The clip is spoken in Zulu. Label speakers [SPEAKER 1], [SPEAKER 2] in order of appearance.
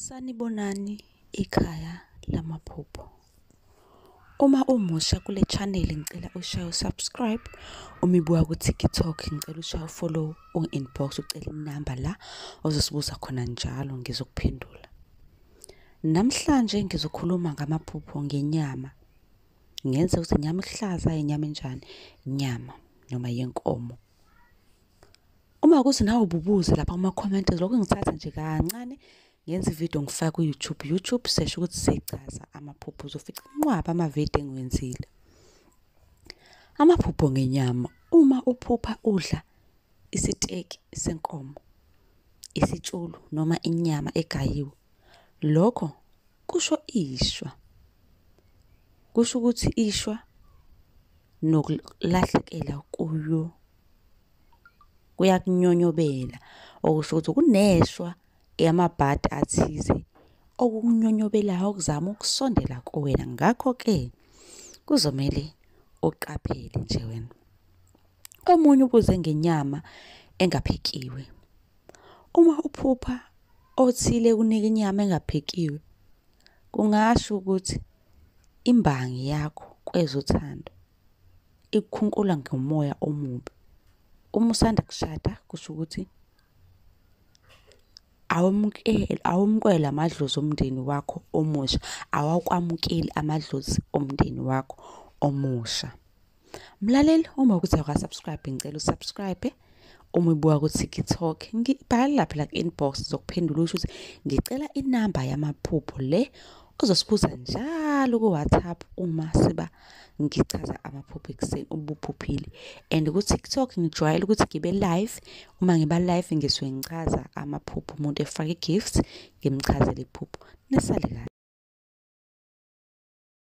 [SPEAKER 1] Sanibonani ikhaya lamaphupho. Uma umusha kule channel ngicela ushaye usubscribe, uma ibuya ku-TikTok ngicela ushaye ufollow u-inbox ucele inamba la ozosibuza khona njalo ngizokuphendula. Namhlanje ngizokhuluma ngamaphupho ngenyama. Ngenze ukuthi inyama ihlaza, inyama enjani, inyama noma yenkomo Uma ukuthi nawe ububuze lapha kuma comment lokho ngithatha nje kancane ngenza ivideo ngifake ku YouTube. YouTube sesho ukuthi sichaza amaphupho uzofica inqwaba ama video engiwenzile. Amaphupho ngenyama uma uphupha udla isiteki senkomo, isitshulu noma inyama egayiwe. Lokho kusho ishwa. Kusho ukuthi ishwa nokulahlekela kuyo kuyakunyonyobela okusho ukuthi kuneshwa yamabhadi athize okukunyonyobelayo okuzama ukusondela kuwena ngakho-ke kuzomele uqaphele nje wena omunye ubuze ngenyama engaphekiwe uma uphupha othile kunika inyama engaphekiwe kungasho ukuthi Imbangi yakho kwezothando ikukhunkula ngomoya omubi. Uma usanda kushada kusho ukuthi awamukeli awumkwela amadlozi omndeni wakho omusha awakwamukeli amadlozi omndeni wakho omusha. mlaleli uma ukuthi awukasubscribe ngicela usubscribe uma ubuka ku-tiktok ngibhale lapha la ku-inbox zokuphendula usho ukuthi ngicela inamba yamaphupho le ozosibuza njalo ku-whatsapp uma siba ngichaza amaphupho ekuseni ubuphuphile and ku-tiktok ngijwayele ukuthi ngibe live uma ngiba live ngisuke ngichaza amaphupho umuntu efake i-gift ngimchazele iphupho nisale kahle